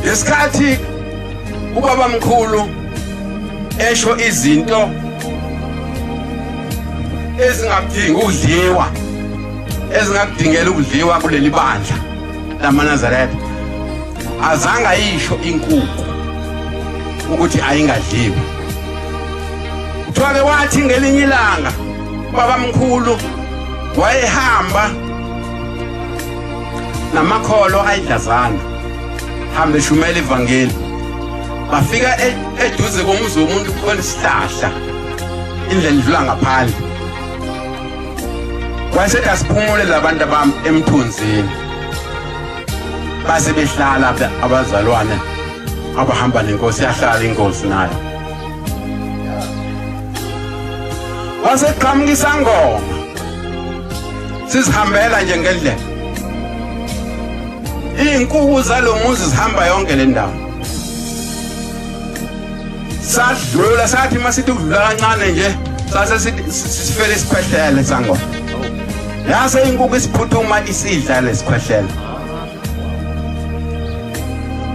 ngesikhathi ubaba mkhulu esho izinto ezingakudingi ukudliwa ezingakudingela ukudliwa kuleli bandla lamanazaretha azange ayisho inkuku ukuthi ayingadliwa kuthiwa-ke wathi ngelinye ilanga Babamkhulu wayehamba namakholo ayidlazana hambe shumela ivangeli bafika e-, eduze komuzi womuntu khona isihlahla indlela idlula ngaphandle wayesethi asiphumule labantu abami emthunzini base behlala abazalwane abahamba nenkosi yahlala inkosi nayo waseqhamuka isangoma sizihambela nje ngendlela iy'nkuku zalo muzi zihamba yonke le ndawo sadlula sathi uma sithi ukudlula kancane nje sase sifele isikhwehlele sangoma yase inkukhu isiphuthuma isidla lesikhwehlele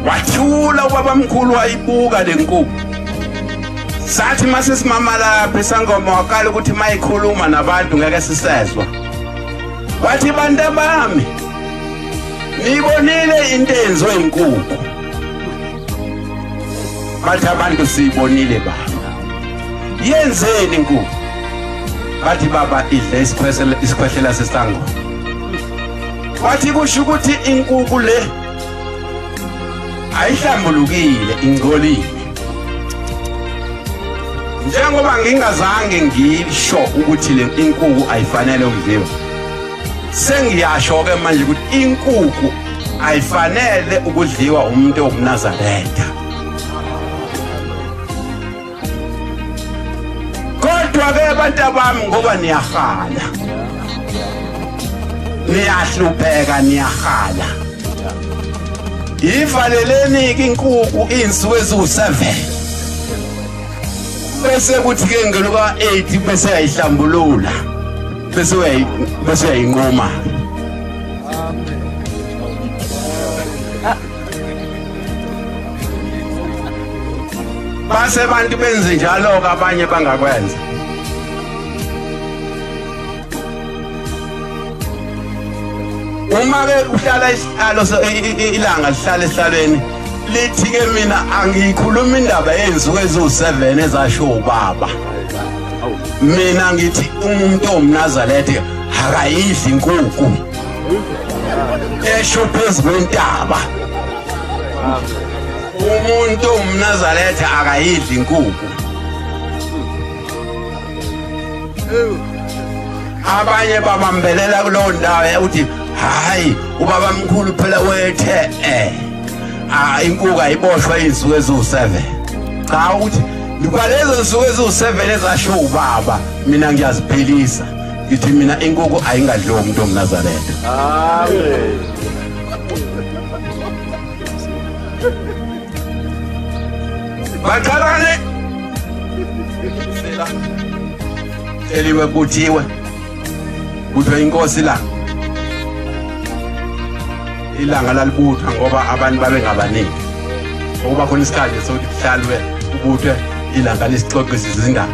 wathula ubabamkhulu wayibuka le nkukhu sathi uma sesimama lapha isangoma waqala ukuthi uma ikhuluma nabantu ngeke sisezwa wathi bantu abami niyibonile into eyenziwe inkukhu bathi abantu siyibonile baba yenzeni inkukhu bathi baba idle isikhwehlela sesangoma Wathi kusho ukuthi inkuku le ayihlambulukile ingcolile. Njengoba ngingazange ngisho ukuthi le inkuku ayifanele ukudliwa. Sengiyasho ke manje ukuthi inkuku ayifanele ukudliwa umuntu owumnazaretha. kodwa-ke abantu abami ngoba niyahala niyahlupheka niyahala yivaleleni-ke inkuku iy'nsuku eziwu-seven bese kuthi-ke ngeluka-eight bese uyayihlambulula bese uyayinquma base abantu benze njalo-ke abanye bangakwenza uma-ke uhlala isihlalo ilanga lihlala esihlalweni lithi-ke mina angiyikhuluma indaba yenzuku eziwu-seven ezasho ubaba mina ngithi umuntu owumnazalethe akayidli inkukhu esho phezu kwentaba umuntu owumnazaretha akayidli inkukhu abanye babambelela kulowo ndawo ukuthi hhayi ubaba mkhulu phela wethe eh ah, inkuku ayiboshwa izinsuku eziwu-seven cha ukuthi ngibalezo nsuku eziwu-seven ezasho ubaba mina ngiyaziphilisa ngithi mina inkukhu ayingadliwa umuntu omnazaretha amen baqalane eliwe kuthiwe kuthiwa inkosi la ilanga lalibutha ngoba abantu babengabaningi okuba khona isikhathi sokuthi kuhlalwe kubuthwe ilanga lisixoxisizindaba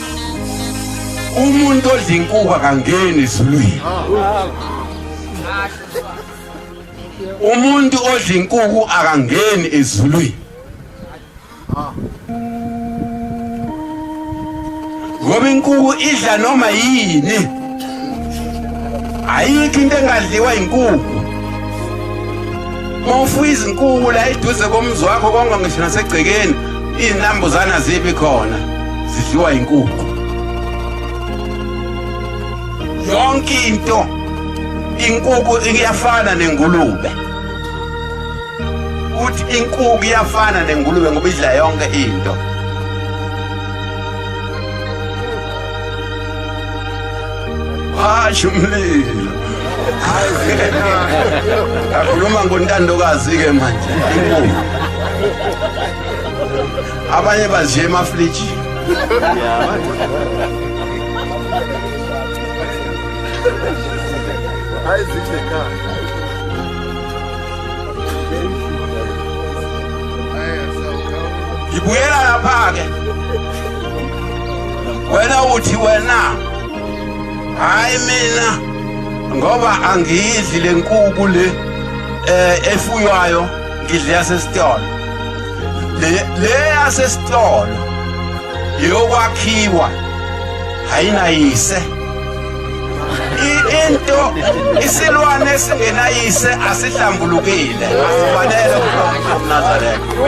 umuntu odla inkuba kangeni esulwini umuntu odla inkuku akangeni ezulwini ngoba inkuku idla noma yini ayikho into engadliwa yinkukhu mawufuya izinkukhu la eduze komzi wakho konke ngisho nasegcekeni izinambuzane azibi khona zidliwa yinkukhu yonke into inkukhu iyafana nengulube uthi inkukhu iyafana nengulube ngoba idla yonke into Hayi umlilo. Hayi wena. Akhuluma ngontandokazi ke manje. Inkomo. Abanye baziye emafliji. Hayi zidle khaya. Ngibuyela lapha ke. wena uthi wena hayi mina ngoba angiyidli le nkuku le eh efuywayo ngidle yasesitolo le le yasesitolo yokwakhiwa hayinayise into isilwane esingenayise asihlambulukile asifanele kulo mnazareko